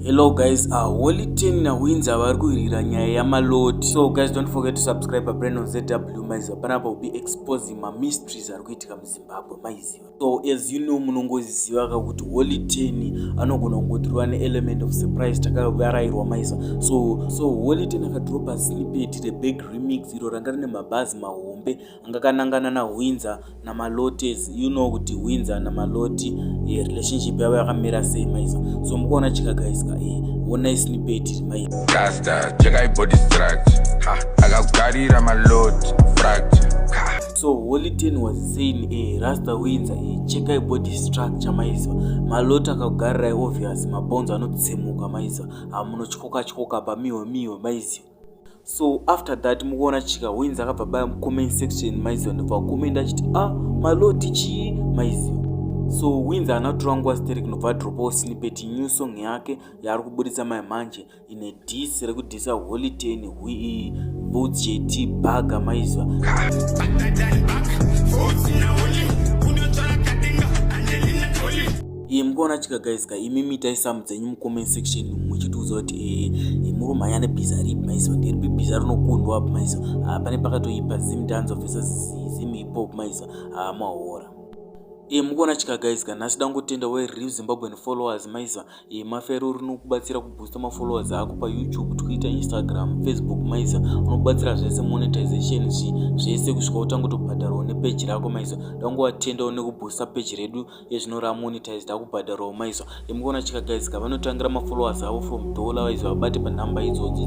Hello guys, uh, Holy Ten na Windsor vari kuhirira nyaya yamalodi. So guys, don't forget to subscribe pa brand on ZW maiziva. Panapa will be exposing ma mysteries ari kuitika muZimbabwe maiziva. So as you know munongoziva ka kuti Holy Ten anogona kungotirwa ne element of surprise takavarairwa maiziva. So so Holy Ten akadropa snippet the big remix iro ranga rine mabhazi mahombe ngakanangana nahwinza namalotes you know kuti hwinza namaloti eh, relationship yavo yakamira sei maiza so mukuona chikagaisika eh, onai snipeti iri maizasta chekai body structure akakugarira maloti fracture so holy ten was saying eh, rasta winza eh, chekai body structure maiziva maloti akakugarirai obvious mabonzo anotsemuka maiziva hamunotyoka tyoka pamiwe miwe maiziva so after that mukuona chika wins akabva baya mucomment section maiziva ndobva kucomment achiti a ah, maloti chii maiziva so wins haana kutora nguva sterek nobva adropawo sinipeti new song yake yaari kuburitsa mai manje ine dis rekudisa holiten hui boots jt baga maiziva Iye mukaona chika guys ka imi mitai samu dzenyu mucomment section muchitiudza kuti eh, eh, muri umhanya nebhiza ripi maiso ndiripi bhiza rinokundwa apo maiso ah, pane pakatoipa zim danzo vesa zim hipop maiso ah, mahora e eh, mukuona chika guys ka nhasi dangotenda we real zimbabwean followers maiza e eh, mafero rinokubatsira kuboosta mafollowers ako payoutube twitter instagram facebook maiza unokubatsira zvese monetization zvi zvese kusvika utanga kutobhadharwa nepeji rako maiza dangowatendawo nekuboosta peji redu ezvino ramonetize takubhadharawo maiso emukuona chikagadzika vanotangira mafollowers avo from dollar waizi vabate panhamba idzodzi